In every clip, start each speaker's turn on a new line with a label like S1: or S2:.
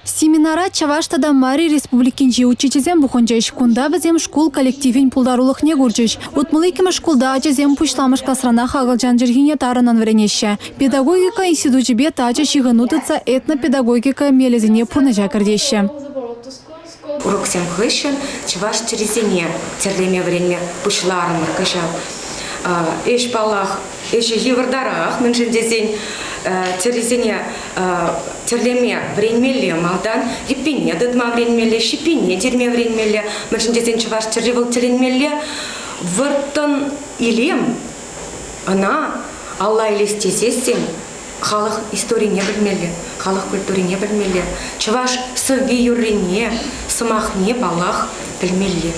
S1: Семинара Чӑваш тата Мари Республикинчи учительсем пухӑнчӗҫ. Кунта вӗсем шкул коллективӗн пултарулӑхне курчӗҫ. Утмӑл иккӗмӗш шкулта ачасем пуҫламӑш класранах акӑлчан чӗлхине тарӑннӑн вӗренеҫҫӗ. Педагогика институчӗпе тачӑ ҫыхӑну тытса этнопедагогика мелӗсене пурнӑҫа кӗртеҫҫӗ.
S2: Уроксем хыҫҫӑн чӑваш чӗрисене тӗрлеме вӗренме пуҫларӑмӑр кӑҫал. Ӗҫ паллах, ӗҫӗ йывӑртарах, мӗншӗн тесен чӗрисене тӗрлеме вӗренмелле, малтан йӗппенне тытма вӗренмелле, ҫиппенне тирме вӗренмелле, мӗншӗн тесен чӑваш чӗри вӑл тӗлӗнмелле вӑрттӑн илем. Ӑна алла илес тесессӗн халӑх историне пӗлмелле, халӑх культурине пӗлмелле, чӑваш сӑвви-юррине, сӑмахне, паллах, пӗлмелле.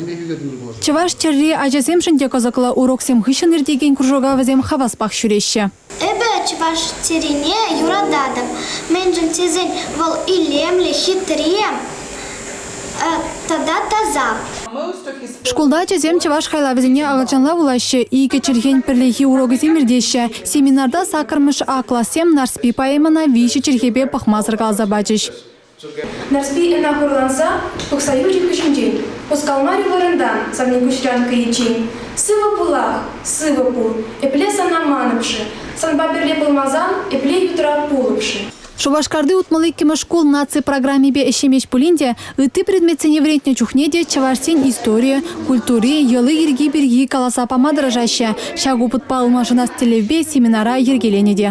S2: Чӑваш
S1: тӗрри ачасемшӗн те кӑсӑклӑ, уроксем хыҫҫӑн иртекен кружока вӗсем хаваспах ҫӳреҫҫӗ. Эпӗ чӑваш
S3: тӗрине юрататӑп, мӗншӗн тесен вӑл илемлӗ, хитре, Шкулта
S1: ачасем чӑваш хайлавӗсене акӑлчанла вулаҫҫӗ, икӗ чӗлхен пӗрлехи урокӗсем иртеҫҫӗ. Семинарта саккӑрмӗш А классем Нарспи поэмӑна виҫӗ чӗлхепе пӑхмасӑр каласа пачӗҫ. Нарспи
S4: ӑна хурланса тухса юлчӗ хыҫӗнчен. Хускалмарӗ вырӑнтан Санникуҫ Янккӑ ечин. Сывӑ пулах, сывӑ пул, эпле сана манӑпшӑ, санпа пӗрле пулмасан эпле ютрав пулӑпшӑ. Шупашкарти утмӑл
S1: иккӗмӗш шкул наци программипе ӗҫлемест пулин те ытти предметсене вӗрентнӗ чухне те чӑвашсен историйӗ, культури, йӑли-йӗрки пирки каласа пама тӑрӑшаҫҫӗ. Ҫак опытпа ылмашӑнас тӗллевпе семинара йӗркеленӗ те.